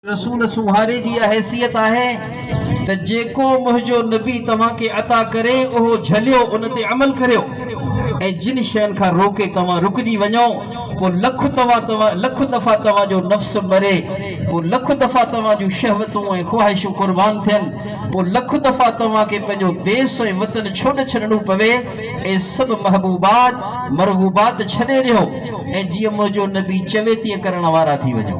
رسول سونهاري جي اها حيثيت آهي ته جيڪو منهنجو نبي توهان کي عطا ڪري اهو جهليو ان تي عمل ڪريو ۽ جن شين کان روڪي توهان رڪجي وڃو پوء لک توهان توهان لک دفعا توهان جو نفس مري پوء لک دفعا توهان جون شهوتون ۽ خواهشون قربان ٿين پوء لک دفعا توهان کي پنهنجو ديس ۽ وطن ڇوڏ ڇڏڻو پوي اي سڀ محبوبات، مرغوبات ڇڏي ڏيو ۽ جيئن منهنجو نبي چوي تيئن ڪرڻ وارا ٿي وڃو.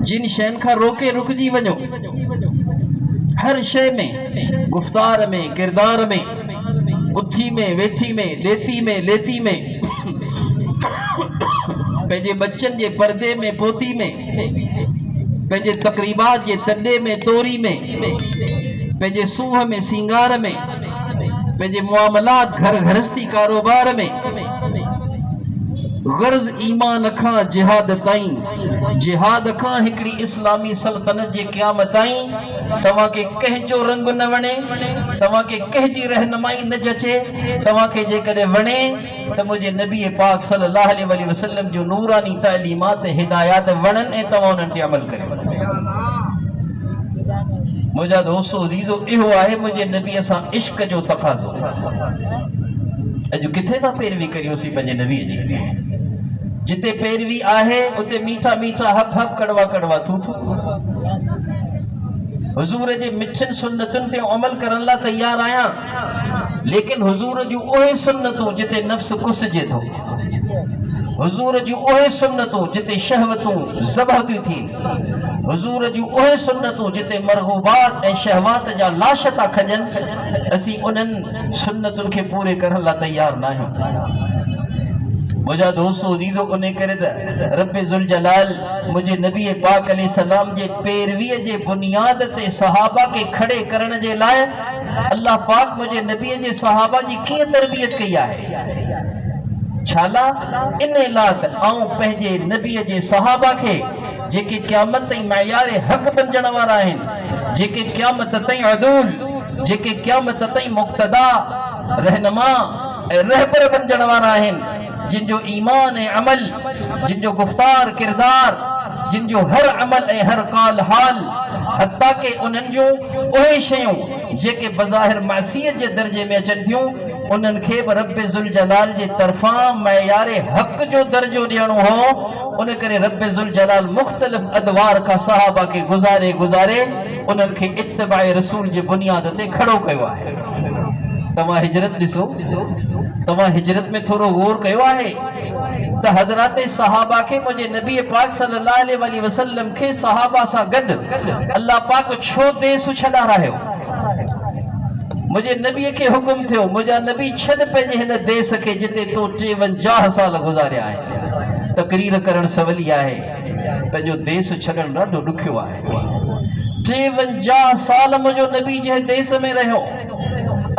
جن شين کان روڪي رڪجي وڃو. هر شيء ۾ گفتار ۾، ڪردار ۾، اٿي ۾، ويٺي ۾، ڏيتي ۾، ليتي ۾، پنهنجي ٻچن جي پردي ۾، پوتي ۾، پنهنجي تقريبات جي تڏي ۾ توري ۾ پنهنجي سونهن ۾ سينگار ۾ پنهنجي معاملات گهر گهرستي ڪاروبار ۾ غرض ايمان کان جهاد تائين جهاد کان هڪڙي اسلامي سلطنت جي قيام تائين توهان کي ڪنهن جو رنگ نه وڻي توهان کي ڪنهن جي رهنمائي نه جچي توهان کي جيڪڏهن وڻي ته منهنجي نبي پاڪ صلي الله عليه واٰله وسلم جون نوراني تعليمات ۽ هدايات وڻن ۽ توهان انهن تي عمل ڪريو. منهنجا دوستو عزيزو اهو آهي منهنجي نبي سان عشق جو تقاضو. اڄ ڪٿي ٿا پيروي ڪريوسين پنهنجي نبي جي. جتي پيروي آهي اتي ميٺا ميٺا حق حق ڪڙوا ڪڙوا ٿو ٿو. حضور جي مٺين سنتن تي عمل ڪرڻ لاء تيار آهيان. ليڪن حضور جون اهي سنتون جتي نفس ڪسجي ٿو، حضور جون اهي سنتون جتي شهوتون ذبح ٿيون ٿين، حضور جون اهي سنتون جتي مرغوبات ۽ شهوات جا لاش ٿا کڄن، اسين انهن سنتن کي پوري ڪرڻ لاء تيار ناهيون. منهنجا دوستو عزيزو ان ڪري ته رب ذوالجلال منهنجي نبي پاڪ عليه السلام جي پيروي جي بنياد تي صحابه کي کڙي ڪرڻ جي لاء الله پاڪ منهنجي نبي جي صحابه جي ڪيئن تربيت ڪئي آهي؟ ڇالاء؟ ان لاء ته آئون پنهنجي نبي جي صحابه کي جيڪي قيامت تائين معيار حق بنجڻ وارا آهن، جيڪي قيامت تائين عدول، جيڪي قيامت تائين مقتدا، رهنما ۽ رهبر بنجڻ وارا آهن، جن جو ايمان ۽ عمل، جن جو گفتار، ڪردار، جن جو هر عمل ۽ هر قال حال حتيٰ ڪي انهن جون اهي شيون جيڪي بظاهر معصيت جي درجي ۾ اچن ٿيون انهن کي به رب ذوالجلال جي طرفان معيار حق جو درجو ڏيڻو هو ان ڪري رب ذوالجلال مختلف ادوار کان صحابه کي گذاري گذاري انهن کي اتباع رسول جي بنياد تي کڙو ڪيو آهي. توهان هجرت ڏسو توهان هجرت ۾ ٿورو غور ڪيو آهي؟ ته حضرات صحابه کي منهنجي نبي پاڪ صلي الله عليه واٰله وسلم کي صحابه سان گڏ الله پاڪ ڇو ديس سڇ ڏارايو؟ منهنجي نبي کي حڪم ٿيو منهنجا نبي ڇڏ پنهنجي هن ديس کي جتي تو ٽيونجاهه سال گذاريا آهن. تقرير ڪرڻ سولي آهي پنهنجو ديس ڇڏڻ ڏاڍو ڏکيو آهي. ٽيونجاهه سال منهنجو نبي جنهن ديس ۾ رهيو.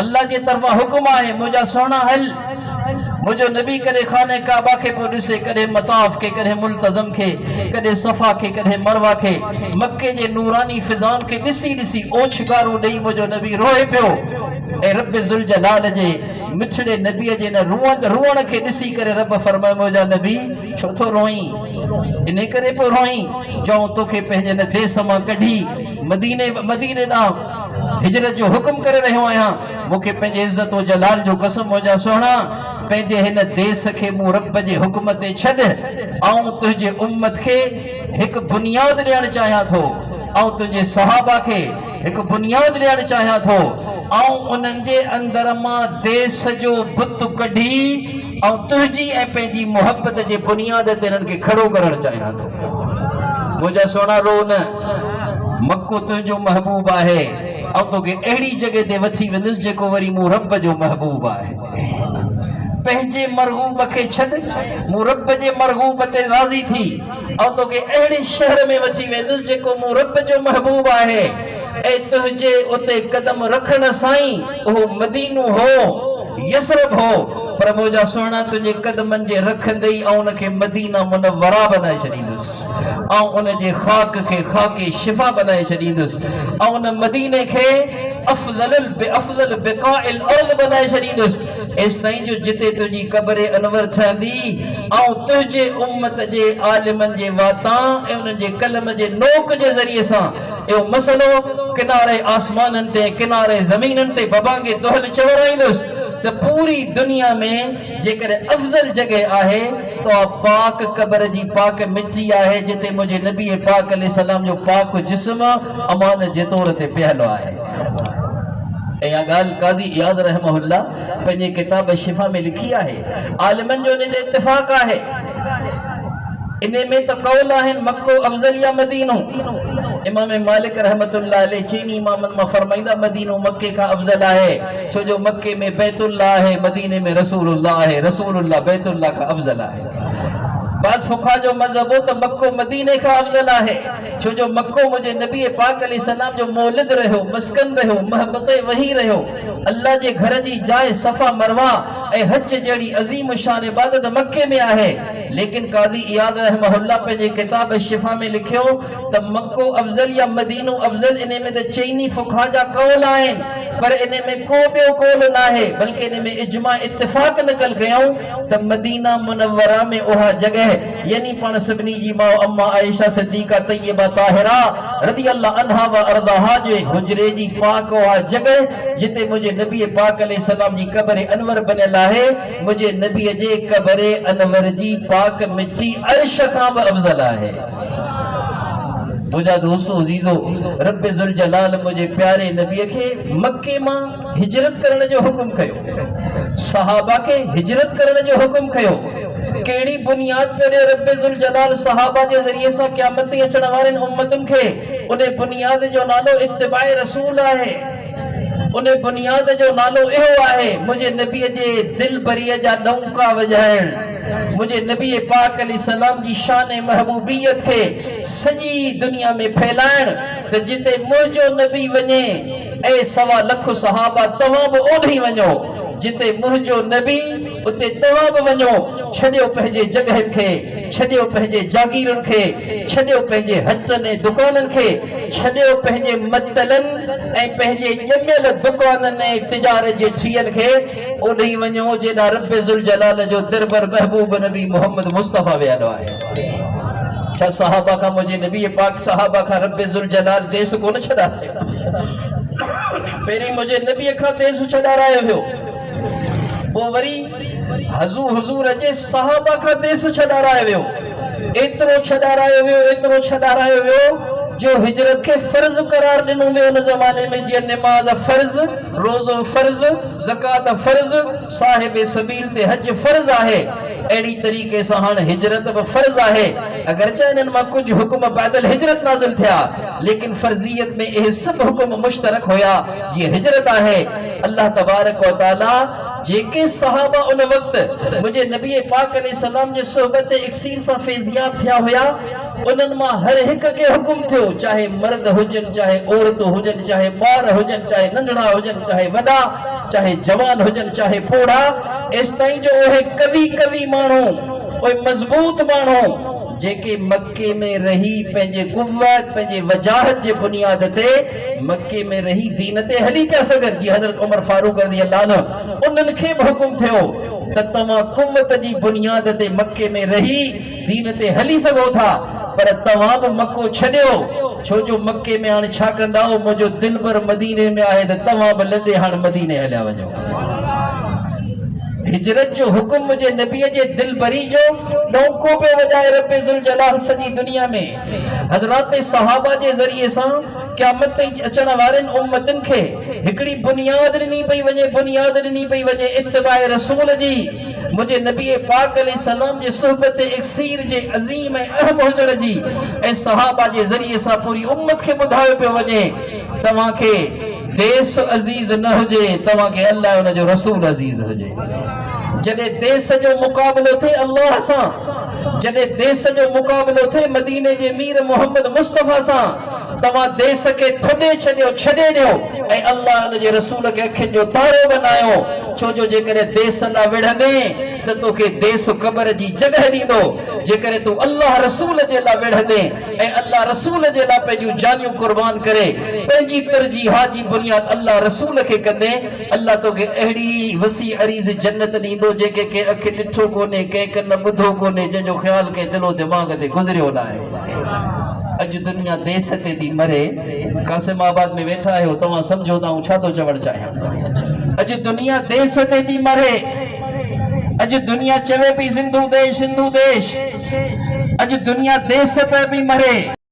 الله جي طرفان حڪم آهي، منهنجا سهڻا هل، منهنجو نبي ڪڏهن خانه ڪعبه کي پيو ڏسي، ڪڏهن مطاف کي، ڪڏهن ملتزم کي، ڪڏهن صفا کي، ڪڏهن مروه کي، مڪي جي نوراني فضائن کي ڏسي ڏسي اوڇنگارون ڏيئي منهنجو نبي روئي پيو ۽ رب ذوالجلال جي مٺڙي نبي جي ان روئند روئڻ کي ڏسي ڪري رب فرمايو منهنجا نبي ڇو ٿو روئين؟ انهي ڪري پيو روئين جو آئون توکي پنهنجي ان ديس مان ڪڍي مديني مديني ڏانهن هجرت جو حڪم ڪري رهيو آهيان، مون کي پنهنجي عزت و جلال جو قسم منهنجا سهڻا، پنهنجي هن ديس کي مون رب جي حڪم تي ڇڏ، آئون تنهنجي امت کي هڪ بنياد ڏيڻ چاهيان ٿو، آئون تنهنجي صحابه کي هڪ بنياد ڏيڻ چاهيان ٿو، آئون انهن جي اندر مان ديس جو بت ڪڍي، آئون تنهنجي ۽ پنهنجي محبت جي بنياد تي انهن کي کڙو ڪرڻ چاهيان ٿو. منهنجا سهڻا روء نه، مڪو تنهنجو محبوب آهي، آئون توکي اهڙي جڳهه تي وٺي ويندس جيڪو وري مون رب جو محبوب آهي. پنهنجي مرغوب کي ڇڏ، مون رب جي مرغوب تي راضي ٿي، آئون توکي اهڙي شهر ۾ وٺي ويندس جيڪو مون رب جو محبوب آهي. اي تنهنجي اتي قدم رکڻ سان ئي اهو مدينو هو، يثرب هو، پر منهنجا سهڻا تنهنجي قدمن جي رکندي ئي آئون ان کي مدينه منوره بنائي ڇڏيندس، آئون ان جي خاڪ کي خاڪ شفا بنائي ڇڏيندس، آئون ان مديني کي افضل افضل بقاع الارض بنائي ڇڏيندس، ايستائين جو جتي تنهنجي قبر انور ٺهندي، آئون تنهنجي امت جي عالمن جي واتان ۽ انهن جي قلم جي نوڪ جي ذريعي سان اهو مسئلو ڪناري آسمانن تي ۽ ڪناري زمينن تي ببانگي دهل چورائيندس ته پوري دنيا ۾ جيڪڏهن افضل جڳهه آهي ته اها پاڪ قبر جي پاڪ مٽي آهي جتي منهنجي نبي پاڪ عليه السلام جو پاڪ جسم امانت جي طور تي پيهل آهي. ۽ اها ڳالهه قاضي اياز رحمه الله پنهنجي ڪتاب شفا ۾ لکي آهي. عالمن جو ان تي اتفاق آهي. انهي ۾ ته قول آهن مڪو افضل يا مدينو. امام مالڪ رحمة الله عليه چئني امامن مان فرمائيندا مدينو مڪي کان افضل آهي ڇو جو مڪي ۾ بيت الله آهي مديني ۾ رسول الله آهي رسول الله بيت الله کان افضل آهي. بعض فقها جو مذهب هو ته مڪو مديني کان افضل آهي ڇو جو مڪو منهنجي نبي پاڪ عليه السلام جو مولد رهيو، مسڪن رهيو، مهبط وحي رهيو. الله جي گهر جي جاء صفا مروه ۽ حج جهڙي عظيم الشان عبادت مڪي ۾ آهي ليڪن قاضي اياض رحمه الله پنهنجي ڪتاب الشفا ۾ لکيو ته مڪو افضل يا مدينو افضل انهي ۾ ته چئني فقها جا قول آهن پر انهي ۾ ڪو ٻيو قول ناهي بلڪه انهي ۾ اجماع اتفاق نقل ڪيائون ته مدينه منوره ۾ اها جڳهه يعني پاڻ سڀني جي ماء اما عائشه صديقه طيبه طاهره رضي الله عنها و ارضاها جي حجري جي پاڪ اها جڳهه جتي منهنجي نبي پاڪ عليه السلام جي قبر انور بنيل آهي منهنجي نبي جي قبر انور جي پاڪ مٽي عرش کان به افضل آهي. مجاهد حسو عزيزو رب ذوالجلال منهنجي پياري نبي کي مڪي مان هجرت ڪرڻ جو حڪم ڪيو؟ صحابه کي هجرت ڪرڻ جو حڪم ڪيو؟ ڪهڙي بنياد پيو ڏي رب ذوالجلال صحابه جي ذريعي سان قيامت تائين اچڻ وارين امتن کي؟ ان بنياد جو نالو اتباع رسول آهي. ان بنياد جو نالو اهو آهي منهنجي نبي جي دلبريء جا ڏونڪا وڄائڻ، منهنجي نبي پاڪ عليه السلام جي شان ۽ محبوبيت کي سڄي دنيا ۾ ڦهلائڻ، ته جتي منهنجو نبي وڃي ۽ سوا لک صحابه توهان به اوڏهين وڃو، جتي منهنجو نبي اتي توهان به وڃو، ڇڏيو پنهنجي جڳهين کي، ڇڏيو پنهنجي جاگيرن کي، ڇڏيو پنهنجي هٽن ۽ دڪانن کي، ڇڏيو پنهنجي متلن ۽ پنهنجي ڄميل دڪانن ۽ تجارت جي ٺيهن کي، اوڏهين وڃو جيڏا رب ذوالجلال جو دربر محبوب نبي محمد مصطفيٰ ويل آهي ڇا صحابه کان منهنجي نبي پاڪ صحابه کان رب ذوالجلال ديس ڪونه ڇڏاري پهرين منهنجي نبي کان ديس ڇڏارايو ويو پوء وري حضور حضور جي صحابه کان ديس ڇڏارايو ويو ايترو ڇڏارايو ويو ايترو ڇڏارايو ويو جو هجرت کي فرض قرار ڏنو ويو ان زماني ۾ جيئن نماز فرض روزو فرض، زڪوات فرض، صاحب سبيل تي حج فرض آهي، اهڙي طريقي سان هاڻ هجرت به فرض آهي، اگرچه انهن مان ڪجهه حڪم بعد الهجرت نازل ٿيا، ليڪن فرضيت ۾ اهي سڀ حڪم مشترڪ هيا جيئن هجرت آهي، الله تبارڪ و تعاليٰ جيڪي صحابه ان وقت منهنجي نبي پاڪ عليه السلام جي صحبت اڪسير سان فيضياب ٿيا هيا، انهن مان هر هڪ کي حڪم ٿيو، چاهي مرد هجن، چاهي عورتون هجن، چاهي ٻار هجن، چاهي ننڍڙا هجن، چاهي وڏا، چاهي جوان هجن، چاهي پوڙها، ايستائين جو اهي قوي قوي ماڻهو، اهي مضبوط ماڻهو، جيڪي مڪي ۾ رهي پنهنجي قوت، پنهنجي وجاهت جي بنياد تي مڪي ۾ رهي دين تي هلي پيا سگهن جي حضرت عمر فاروق رضي الله عنه انهن کي به حڪم ٿيو ته توهان قوت جي بنياد تي مڪي ۾ رهي دين تي هلي سگهو ٿا پر توهان به مڪو ڇڏيو ڇو جو مڪي ۾ هاڻ ڇا ڪندائو منهنجو دلبر مديني ۾ آهي ته توهان به لڏي هاڻ مديني هليا وڃو هجرت جو حڪم منهنجي نبي جي دلبري جو ڏونڪو پيو وڄائي رب ذوالجلال سڄي دنيا ۾ حضرات صحابه جي ذريعي سان قيامت تائين اچڻ وارين امتن کي هڪڙي بنياد ڏني پئي وڃي بنياد ڏني پئي وڃي اتباع رسول جي منهنجي نبي پاڪ عليه السلام جي صحبت اڪسير جي عظيم ۽ اهم هجڻ جي ۽ صحابه جي ذريعي سان پوري امت کي ٻڌايو پيو وڃي، توهان کي ديس عزيز نه هجي، توهان کي الله ۽ ان جو رسول عزيز هجي. جڏهن ديس جو مقابلو ٿئي الله سان، جڏهن ديس جو مقابلو ٿئي مديني جي مير محمد مصطفيٰ سان، توهان ديس کي ٿڏي ڇڏيو، ڇڏي ڏيو ۽ الله ۽ ان جي رسول کي اکين جو تارو بنايو، ڇو جو جيڪڏهن ديس ڏانهن وڙهندين ته توکي ديس قبر جي جڳهه ڏيندو، جيڪڏهن تون الله رسول جي لا وڙهندين ۽ الله رسول جي لا پنهنجون جانيون قربان ڪري پنهنجي ترجيحات جي بنياد الله رسول کي ڪندين الله توکي اهڙي وسيع عريض جنت ڏيندو جنهن کي ڪنهن اک ڏٺو ڪونهي ڪنهن ڪن ٻڌو ڪونهي جنهن جو خيال ڪنهن دل و دماغ تي گذريو ناهي. اڄ دنيا ديس تي ٿي مري قاسم آباد ۾ ويٺا آهيو توهان سمجهو ته آئون ڇا ٿو چوڻ چاهيان اڄ دنيا ديس تي ٿي مري اڄ دنيا چوي پي زندو ديش زندو ديش اڄ دنيا ديس تي پي مري